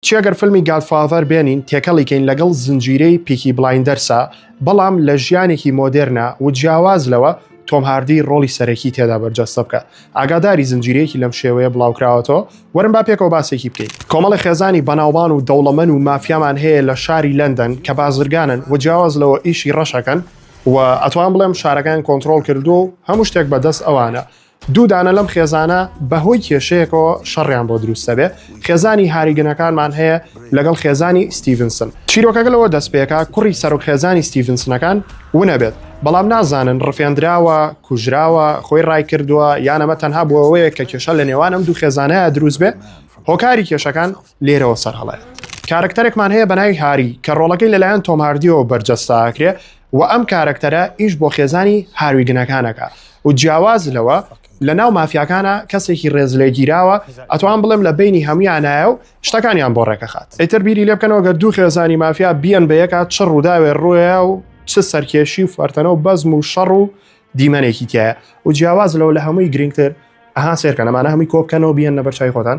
چی ئەگەر فلمی گاد فاذەر بێنین تێکەڵی کەین لەگەڵ زنجیرەی پیکی بڵایندەرسا بەڵام لە ژیانێکی مۆدێرنا و جیاواز لەوە تۆم هاردی ڕۆڵی سەرەکی تێدا بەرجەستە بکا ئاگاداری زنجیرەیەکی لەم شێوەیە بڵاوکراوەتەوە وەرن با پێکەوە باسێکی بکەین کۆمەڵە خێزانی بەناوبان و دەوڵەمەن و مافیامان هەیە لە شاری لەندەن کە بازرگانن و جیاواز لەوە ئیشی ڕەشەکەن و ئەتوان بڵێم شارەکەیان کۆنترۆڵ کردووە و هەموو شتێک بە دەست ئەوانە دوو دانە لەم خێزانە بەهۆی کێشەیەکەوە شەڕیان بۆ دروست دەبێ خێزانی هاریگەنەکانمان هەیە لەگەڵ خێزانی ستیڤنسن چیرۆکەکە لەوە دەست پێکا کوڕی سەرۆک خێزانی ستیڤنسنەکان ونەبێت بەڵام نازانن ڕفێندراوە کوژراوە خۆی ڕای کردووە یانەمە تەنها بۆەوەیە کە کێشە لە نێوانم دوو خێزانەیە دروست بێ هۆکاری کێشەکان لێرەوە سەرهەڵایەت کارەکتەرێکمان هەیە بە ناوی هاری کە ڕۆڵەکەی لەلایەن تۆم هاردیەوە بەرجەستاکرێ و ئەم کارەکتەرە ئیش بۆ خێزانی هاروی گنەکانەکە و جیاواز لەوە لە ناو مافیاکانە کەسێکی ڕێز لێ گیراوە ئەتوان بڵێم لە بینی هەمویانایە و شتەکانیان بۆ ڕێکەخات ئەتر بیری لێ بکەنەوە گەر دوو خێزانی مافیا بیان بە یەکات چ ڕووداوێ ڕووە و چ سەرکێشی و فەرتەنە و بەزم و شەڕ و دیمەنێکی تایە و جیاواز لەوە لە هەمووی گرنگتر ئەها سێرکە نەمانە هەمووی کۆبکەنەوە بیان نەبەر چای خۆتان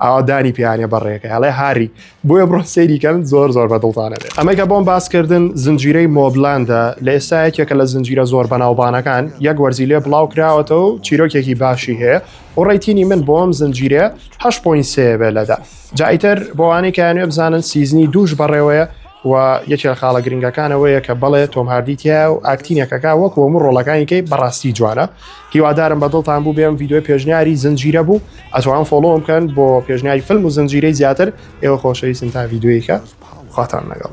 ئاوا دانی پیانە بەڕێکە ئەڵێ هاری بۆیە بڕۆ سەیریکەن زۆر زۆر بە دڵتانە بێت ئەمەکە بۆم باسکردن زنجیرەی مۆبلاندە لە ئێستا یەکێکە لە زنجیرە زۆر بەناوبانەکان یەک وەرزی لێ بڵاو کراوەتەوە و چیرۆکێکی باشی هەیە و ڕێتینی من بۆم زنجیرە هەش پوین سێ بێ لەدا جایتر بۆوانەی کایانێ بزانن سیزنی دووش بەڕێوەیە و یەکێ لە خاڵە گرنگەکان ئەوەیە کە بەڵێ تۆم هاردی تیا و ئاکتینەکەکە وەک وەمو ڕۆڵەکانیکەی بەڕاستی جوانە هیوادارم بە دڵتان بوو بێم یددیوی پێشنیاری زنجیرە بوو ئەتوان فۆڵۆم بکەن بۆ پێشنیاری فلم و زنجیرەی زیاتر ئێوە خۆشەویستن تا یددیویکە خواتان لەگەڵ